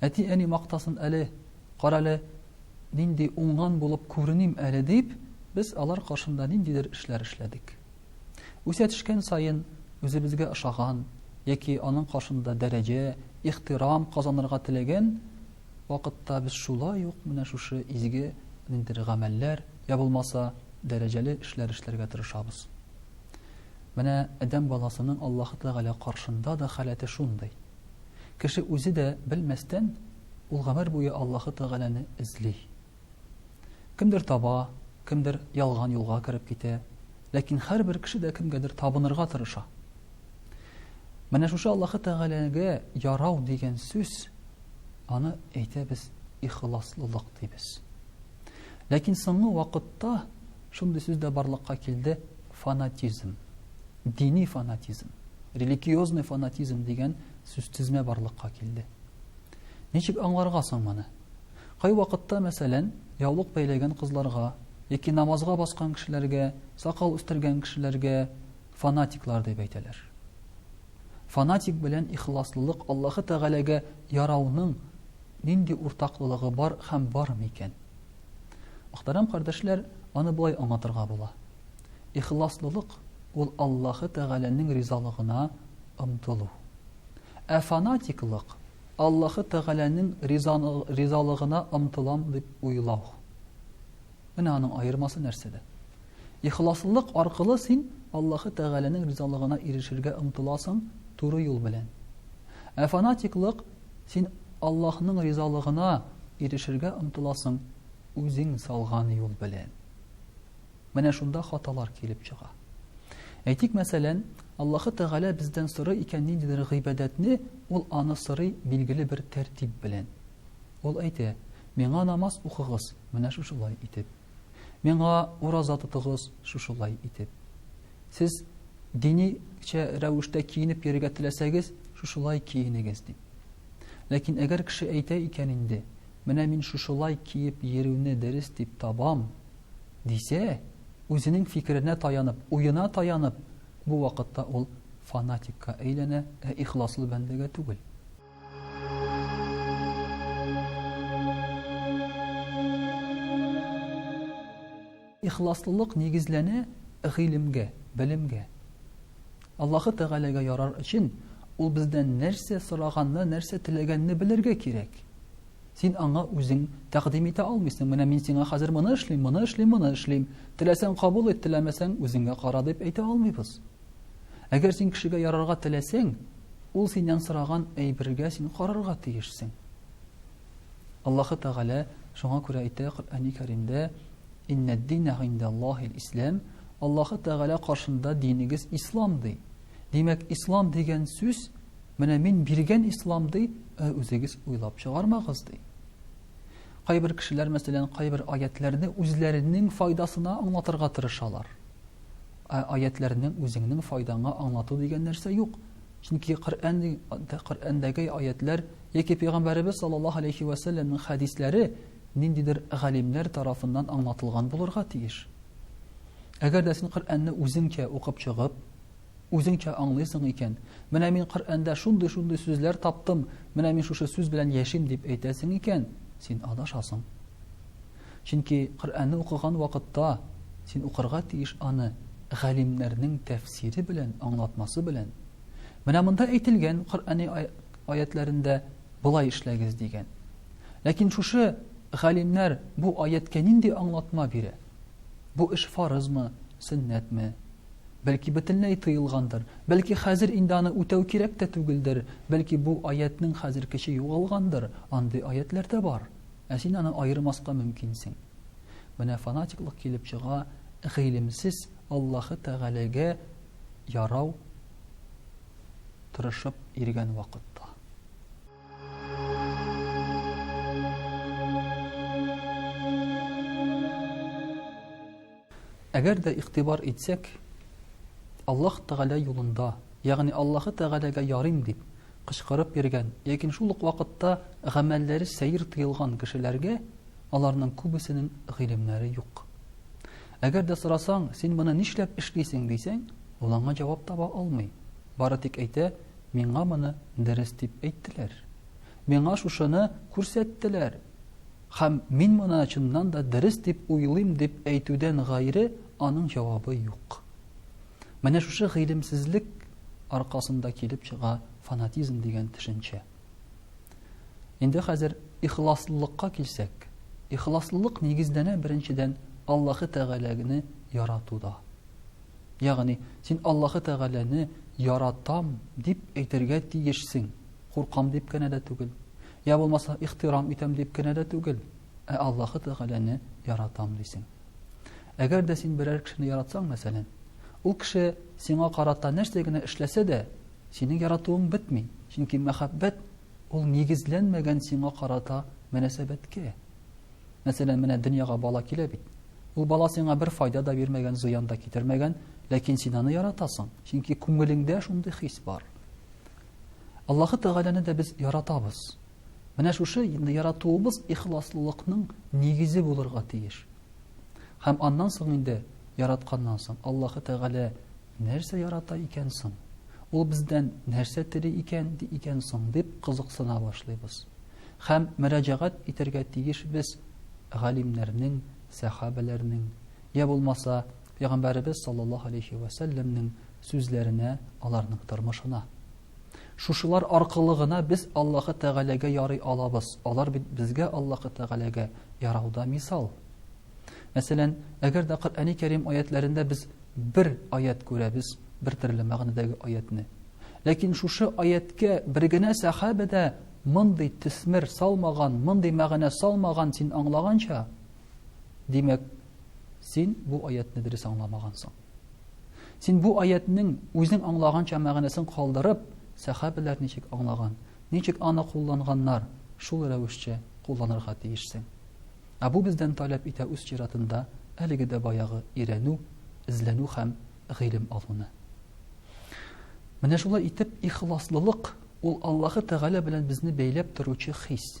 Әти-әни мактасын әле, карале, нинди уңган булып күреним әле дип, без алар каршында ниндидер эшләр эшләдек. Үсә төшкән саен үзебезгә ошаган яки аның каршында дәрәҗә, ихтирам казанырга теләгән вакытта без шулай ук менә шушы изге ниндидер гамәлләр я булмаса дәрәҗәле эшләр эшләргә тырышабыз. Менә адәм баласының Аллаһы Тәгалә каршында да халәте шундый. Кеше үзе дә белмәстән, ул гомер буе Аллаһы Тәгаләне эзли. Кемдер таба, кемдер ялган юлга кереп китә, ләкин һәрбер кеше дә кемгәдер табынырга тырыша. Менә шушы Аллаһы Тәгаләгә ярау дигән сүз, аны әйтәбез ихласлылык дибез. Ләкин соңгы вакытта Шундый сүз дә барлыкка килде, фанатизм. Дини фанатизм, религиозный фанатизм дигән сүзтезмә барлыкка килде. Ничек аңларга соң моны? Кайвакытта, мәсәлән, яулык бәйләгән кызларга яки намазга баскан кешеләргә, сакал үстергән кешеләргә фанатиклар дип әйтәләр. Фанатик белән ихласлылык Аллаһы Тәгаләгә ярауның нинди уртаклылыгы бар һәм бар микән? Мөхтәрәм кардәшләр, аны болай аңлатырга була. Ихласлылык, ул Аллаһы Тәгаләнең ризалыгына омтылу. Ә фанатиклык, Аллаһы Тәгаләнең ризалыгына омтылам дип уйлау. Менә аның аермасы нәрсәдә? Ихласлылык аркылы син Аллаһы Тәгаләнең ризалыгына ирешергә омтыласың туры юл белән. Ә фанатиклык, Син Аллаһның ризалыгына ирешергә омтыласың үзең салган юл белән. Менә шунда хаталар килеп чыга. Әйтик, мәсәлән, Аллаһы Тәгалә бездән сорый икән ниндидер гыйбадәтне, ул аны сорый билгеле бер тәртип белән. Ул әйтә, миңа намаз укыгыз, менә шушылай итеп. Миңа ураза тотыгыз, шушылай итеп. Сез диничә рәвештә киенеп йөрергә теләсәгез, шушылай киенегез, дип. Ләкин әгәр кеше әйтә икән инде, Менә мин шушылай киеп йөрүне дөрес дип табам, дисә, үзенең фикеренә таянып, уена таянып, бу вакытта ул фанатикка әйләнә, ә ихласлы бәндәгә түгел. Ихласлылык нигезләнә гыйлемгә, белемгә. Аллаһы Тәгаләгә ярар өчен Ул бездән нәрсә сораганны, нәрсә теләгәнне белергә кирәк. Син Аңа үзең тәкъдим итә алмыйсың, менә мин сиңа хәзер моны эшлим, моны эшлим, моны эшлим, теләсәң кабул ит, теләмәсәң үзеңә кара дип әйтә алмыйбыз. Әгәр син кешегә ярарга теләсәң, ул синнән сораган әйбергә син карарга тиешсең. Аллаһы Тәгалә шуңа күрә әйтә Коръәни Кәримдә, Иннәд-дина гиндәллаһил ислам, Аллаһы Тәгалә каршында динегез ислам, ди. Димәк, ислам дигән сүз, менә мин биргән ислам, ди, ә үзегез уйлап чыгармагыз, ди. Кайбер кешеләр, мәсәлән, кайбер аятләрне үзләренең файдасына аңлатырга тырышалар. Ә аятләрнең үзеңнең файдаңа аңлату дигән нәрсә юк. Чөнки Коръән Коръәндәге аятләр яки пәйгамбәребез саллаллаһу алейхи ва сәлләмнең хәдисләре ниндидер галимнәр тарафыннан аңлатылган булырга тиеш. Әгәр дә син Коръәнне үзеңчә укып чыгып, үзеңчә аңлыйсың икән, менә мин Коръәндә шундый-шундый сүзләр таптым, менә мин шушы сүз белән яшим дип әйтәсең икән, син адашасың. Чөнки Коръәнне укыган вакытта син укырга тиеш аны галимнәрнең тәфсире белән, аңлатмасы белән. Менә монда әйтелгән Коръәни аятьләрендә болай эшләгез дигән. Ләкин шушы галимнәр бу аятькә нинди аңлатма бирә? Бу эш фарызмы, сөннәтме? Бәлки бөтенләй тыелгандыр, бәлки хәзер инде аны үтәү кирәк тә түгелдер, бәлки бу аятьнең хәзер көче югалгандыр, андый аятьләр дә бар. Ә син аны аермаска мөмкинсең. Менә фанатиклык килеп чыга, гыйлемсез Аллаһы Тәгаләгә ярау тырышып йөргән вакытта. Әгәр дә игътибар итсәк, Аллаһ Тәгалә юлында, ягъни Аллаһы Тәгаләгә ярыйм дип, кычкырып йөргән, ләкин шул ук вакытта гамәлләре сәер тыелган кешеләргә аларның күбесенең гыйлемнәре юк. Әгәр дә сорасаң, син моны нишләп эшлисең, дисәң, ул аңа җавап таба алмый. Бары тик әйтә, миңа моны дөрес дип әйттеләр. Миңа шушыны күрсәттеләр. Һәм мин моны чыннан да дөрес дип уйлыйм дип әйтүдән гайре аның җавабы юк. Менә шушы гыйлемсезлек аркасында килеп чыга фанатизм дигән төшенчә. Инде хәзер ихласлылыкка килсәк, ихласлылык нигезләнә беренчедән Аллаһы Тәгаләне яратуда. Ягъни, син Аллаһы Тәгаләне яратам дип әйтергә тиешсең, Куркам дип кенә дә түгел. Я булмаса, ихтирам итәм дип кенә дә түгел. Ә Аллаһы Тәгаләне яратам дисең. Әгәр дә син берәр кешене яратсаң, мәсәлән, ул кеше сиңа карата нәрсә генә эшләсә дә, синең яратуың бетми. Чөнки мәхәббәт ул нигезләнмәгән сиңа карата мөнәсәбәткә. Мәсәлән, менә дөньяга бала килә бит. Ул бала сиңа бер файда да бирмәгән, зыян да китермәгән, ләкин син аны яратасың, чөнки күңелеңдә шундый хис бар. Аллаһы Тәгаләне дә без яратабыз. Менә шушы яратуыбыз ихласлылыкның нигезе булырга тиеш. Һәм аннан соң инде яратканнан соң Аллаһы Тәгалә нәрсә ярата икән соң? Ул бездән нәрсә тели икән ди икән соң дип кызыксына башлыйбыз. Һәм мөрәҗәгать итәргә тиеш без галимнәрнең, сәхабәләрнең, я булмаса Пәйгамбәребез саллаллаһу алейһи вә сәлләмнең сүзләренә, аларның тормышына. Шушылар аркылы гына без Аллаһы Тәгаләгә ярый алабыз. Алар бит безгә Аллаһы Тәгаләгә ярауда мисал. Мәсәлән, әгәр дә Коръәни Кәрим аятләрендә без бер аят күрәбез, бер төрле мәгънәдәге аятны. Ләкин шушы аяткә бер генә сәхабә дә мондый төсмер салмаган, мондый мәгънә салмаган син аңлаганча. Димәк, Син бу аятне дөрес аңламагансың. Син бу аятның үзең аңлаганча мәгънәсен калдырып, сәхабәләр ничек аңлаган, ничек аны кулланганнар, шул рәвешчә кулланырга тиешсең. Ә бу бездән таләп итә үз чиратында әлеге дә баягы өйрәнү, эзләнү һәм гыйлем алуны. Менә шулай итеп ихласлылык ул Аллаһы Тәгалә белән безне бәйләп торучы хис.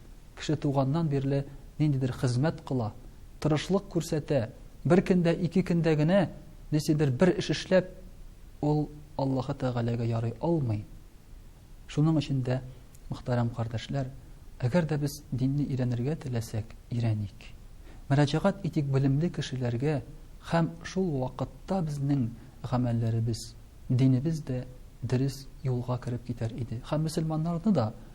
Кеше туганнан бирле ниндидер хезмәт кыла, тырышлык күрсәтә, бер көндә, ике көндә генә нисидер бер эш эшләп, ул Аллаһы Тәгаләгә ярый алмый. Шуның өчен дә, мөхтәрәм кардәшләр, әгәр дә без динне өйрәнергә теләсәк, өйрәник. Мөрәҗәгать итик белемле кешеләргә һәм шул вакытта безнең гамәлләребез, динебез дә дөрес юлга кереп китәр иде һәм мөселманнарны да